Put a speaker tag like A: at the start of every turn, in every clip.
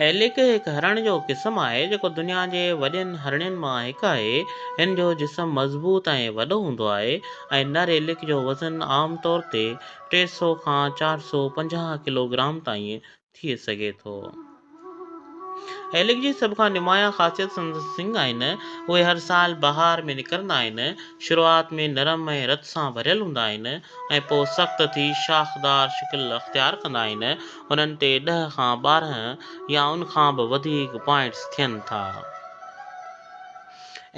A: Alec هڪ هرڻ جو قسم آهي جيڪو دنيا جي وڏين هرڻين مان هڪ آهي. هن جو جسم مضبوط ۽ وڏو هوندو آهي ۽ نر ايلڪ جو وزن عام طور تي ٽي سؤ کان چار سؤ پنجاهه ڪلوگرام تائين ٿي سگهي ٿو. ايلڪ جي سڀ کان نمايان خاصيت سندس سنگ آهن. اهي هر سال بهار ۾ نڪرندا آهن. شروعات ۾ نرم ۽ رت سان ڀريل هوندا آهن ۽ پوء سخت ٿي شاخدار شڪل اختيار ڪندا آهن. انهن تي ڏهه کان ٻارهن يا ان کان به وڌيڪ پوائنٽس ٿين ٿا.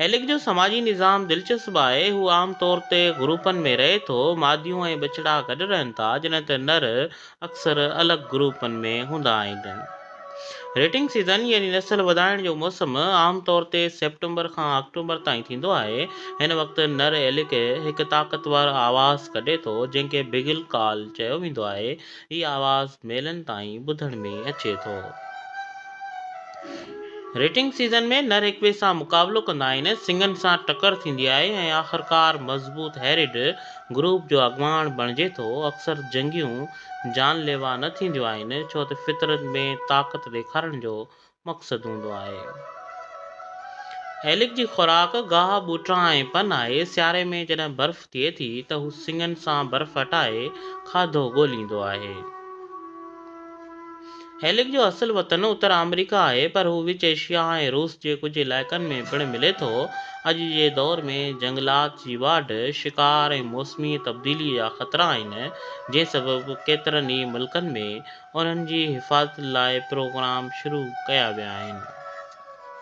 A: ايلڪ جو سماجي نظام دلچسپ آهي. هو عام طور تي گروپن ۾ رهي ٿو. ماديون ۽ ٻچڙا گڏ رهن ٿا، جڏهن ته نر اڪثر الڳ گروپن ۾ هوندا آهن. ريٽنگ سيزن يعني نسل وڌائڻ جو موسم عام طور تي سيپٽمبر کان آڪٽوبر تائين ٿيندو آهي. هن وقت نر ايلڪ هڪ طاقتور آواز ڪڍي ٿو، جنهن کي بگل ڪال چيو ويندو آهي. هي آواز ميلن تائين ٻڌڻ ۾ اچي ٿو. ريٽنگ سيزن ۾ نر هڪٻئي سان مقابلو ڪندا آهن، سنگهن سان ٽڪر ٿيندي آهي ۽ آخرڪار مضبوط هيرڊ گروپ جو اڳواڻ بڻجي ٿو. اڪثر جنگيون جان ليوا نه ٿينديون آهن، ڇو ته فطرت ۾ طاقت ڏيکارڻ جو مقصد هوندو آهي. ايلڪ جي خوراڪ گاهه، ٻوٽا ۽ پن آهي. سياري ۾ جڏهن برف ٿئي ٿي ته هو سڱن سان برف هٽائي کاڌو ڳوليندو آهي. ايلڪ جو اصل وطن اتر آمريڪا آهي پر هو وچ ايشيا ۽ روس جي ڪجهه علائقن ۾ پڻ ملي ٿو. اڄ جي دور ۾ جهنگلات جي واڍ، شڪار ۽ موسمي تبديلي جا خطرا آهن جنهن سبب ڪيترن ئي ملڪن ۾ انهن جي حفاظت لاء پروگرام شروع ڪيا ويا آهن.